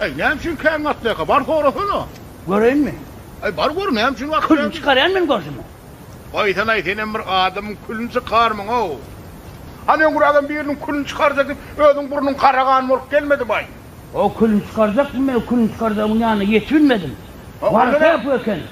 Äý, näme üçin kän gatlaýka? Bar sorasana! Göreýinmi? Äý, bar gör, näme üçin gatlaýka? Külüni çykarýan men görsemem. Goýsanaý, senem bir adamyň külüni çykarmyň-ow! Hany öňňür adam biriniň külüni çykarjak diýip, özüň burnuň karagan bolup gelmedibaý? O külüni çykarjakmy? Men o külüni çykarjagymyň ýanyna ýetibilmedim. Barsa bu eken.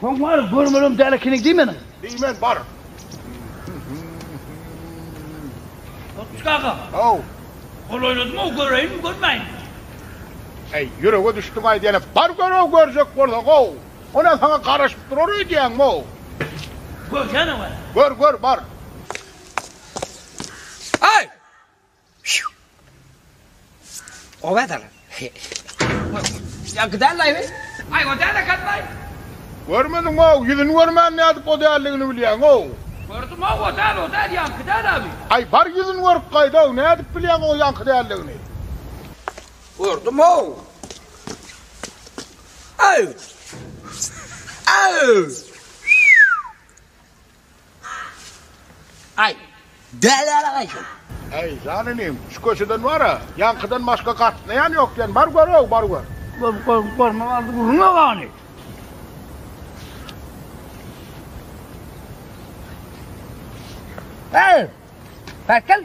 Soň bar görmelem däl ekeniň diý meniň. Diýmen bar. Otçuk aga. How. Gol oýnadymy göreýinmi görmäýinmi. Äý ýürege düşdüň aýdýany bar görew görjek bolsa how. Onä saňa garaşyp durar öýdýäňmi how. Görýän-ow äý. Gör gör bar. Äý. Görmediňow, ýüzüni görmän nädip o däldigini bilýäňow? Gördümow, o däl, o däl, ýaňky däl, abi. Aý, bar ýüzüni görüp gaýdaw, nädip bilýäň o ýaňky däldigini? Gördümow. Aý! Aý! Aý, däli alagaý sen! Äý, jan inim, şu köçeden bar-a, ýaňkydan başga gatnaýan ýok diýen, bar gör-ow, bar gör! Görüp, görüp, görmän aldy gürrüňe gany! Äý, päk gel!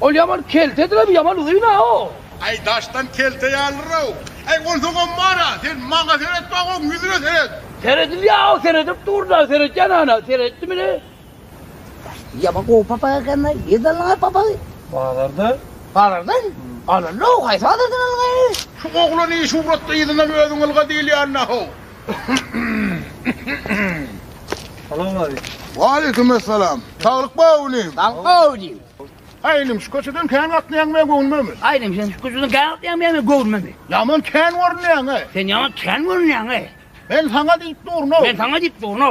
Ol ýaman keltedir-ow, ýaman uzyn-ow. Aý, daşdan kelte ýalydyr-ow. Aý, ol sogam bar-a, sen maňa seretme, oň ýüzüne seret. Seredilýär-ow, seredip dur-da, seretýän ana, seretdimini? Ýaman gowy papak eken-le, nirden aldyň-aý papagy? Bazardan. Bazardan? Alyndy-ow, haýsy bazardan aldyň-aý? Şu oglany şuwratly yzyndan özüň ylga diýilýände-ow. Salam aleyküm. Waleýkim essalam. Saglyk bar inim. Saglyk bar inim. Aý inim şu köçeden kän gatnaýaň men göwnüme. Aý inim sen şu köçeden kän gatnaýaň men göwnüme. Ýaman kän görünýäň. Sen ýaman kän görünýäň. Men saňa diýip durno. Men saňa diýip durno.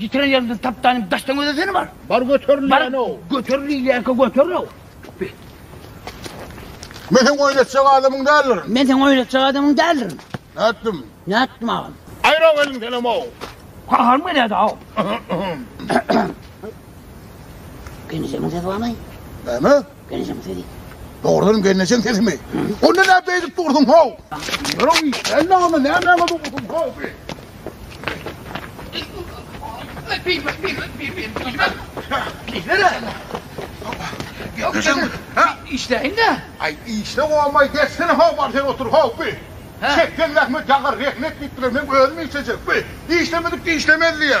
Ýitiren ýeriňden tapdanym daşdan gözesene bar. Bar göterin diýen-ow. Bar göterin diýýänkä göterin-ow. Be. Men seň oýnatjak adamyň däldirin. Men seň oýnatjak adamyň däldirin. Nätdim? Nätdim agam? Aýra welin senem-ow. Kaharym gelýärdi-ow. Genijeňiň sesi barmy? Näme? Gelnejeň sesi. Dogrudanam gelnejeň sesimi? Onda näp eýdip dursuň how? Ýörew, sen näme nämäňe dursuň how bi? Işleýin-de. Aý, işle bolmaý, geçsene how bar sen otur how bi. Çekseň zähmet ýagar, rehnet diýipdiler, meň özüm işlejek bi. Işlemedik-de işlemez diýýä.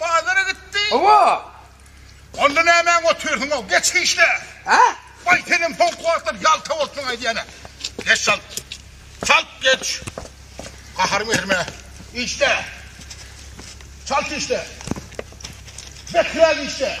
Bazara gitdi. Hawa. Onda nämäň otyrsyň-ow, geç işle. Hä? Baý, senem soňky wagtlar ýalta bolupsyň aýdýan-a. Geç çalt. Çalt geç. Gahary getirme. Işle. Çalt işle. Beträk işle.